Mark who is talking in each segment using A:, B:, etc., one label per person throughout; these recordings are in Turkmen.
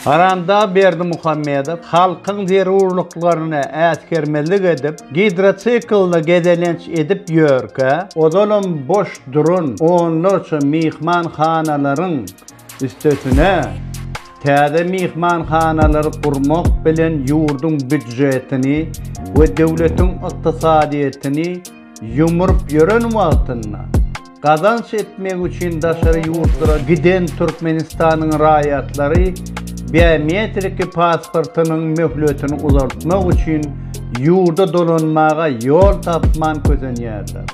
A: Haramdag Berdimuhamedow halkyň zerurlyklaryna äsgermezlik edip, gidrotsiklda gezelenç edip ýörkä, ozalam boş duran onlarça myhmanhanalaryň üstesine täze myhmanhanalary gurmak bilen ýurduň býudjetini we döwletiň ykdysadyýetini Ýumrup ýören wagtynda gazanç etmek üçin daşary ýurtlara giden Türkmenistanyň raýatlary biometriki pasportynyň möhletini uzaltmak üçin ýurda dolanmaga ýol tapman kösenýärler.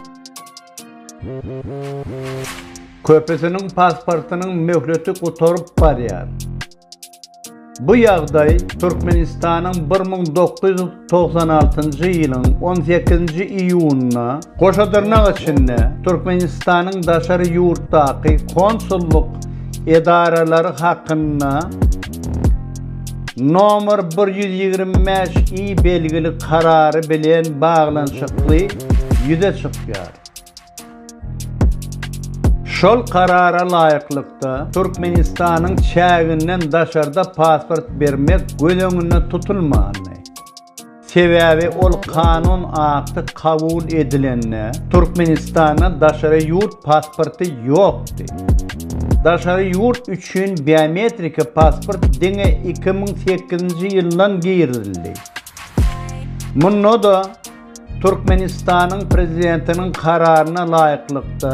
A: Köpüsiniň pasportynyň möhleti gutaryp barýar. Bu ýagdaý Türkmenistanyň bir müň dokuz ýüz togsan altynjy ýylyň on sekizinji iýunynda Goşadyrnak içinde Türkmenistanyň daşary ýurtdaky konsullyk edaralary hakynda nomer bir ýüz ýigrimi bäş I belgili karary bilen baglanyşykly ýüze çykýar. Şol Karara laýyklykda, Türkmenistanyň çäginden daşarda pasport bermek göz öňünde tutulmandy. Sebäbi ol kanun akty kabul edilende, Türkmenistanda daşary ýurt pasporty ýokdy. Daşary ýurt üçin biometriki pasport diňe iki müň sekizinji ýyldan girizildi. Munda-da, Türkmenistanyň Prezidentiniň Kararyna laýyklykda,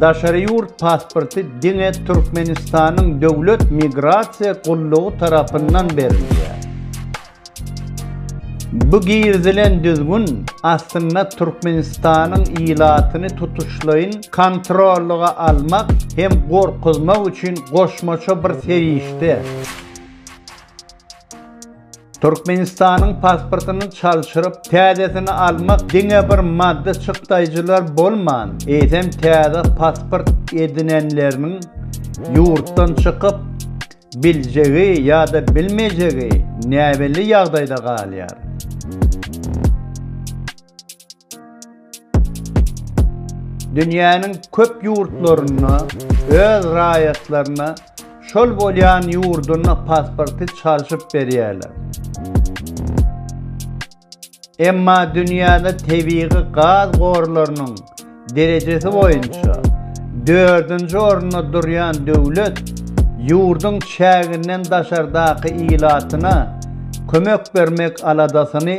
A: daşary ýurt pasporty diňe Türkmenistanyň Döwlet migrasiýa gullugy tarapyndan berilýär. Bu girizilen düzgün aslynda Türkmenistanyň ilatyny tutuşlaýyn kontrollyga almak hem gorkuzmak üçin goşmaça bir serişde. Türkmenistanyň pasportyny çalşyryp, täzesini almak diňe bir maddy çykdaýjylar bolman, eýsem täze pasport edinenleriniň ýurtdan çykyp biljegi ýa-da bilmejegi näbelli ýagdaýda galýar. Dünýäniň köp ýurtlarynda öz raýatlaryna şol bolýan ýurduň pasporty çalşyp berýärler. Emma dünýäde tebigy gaz gorlarynyň derejesi boýunça dördünji orunda durýan döwlet ýurduň çäginden daşardaky ilatyna kömek bermek aladasyny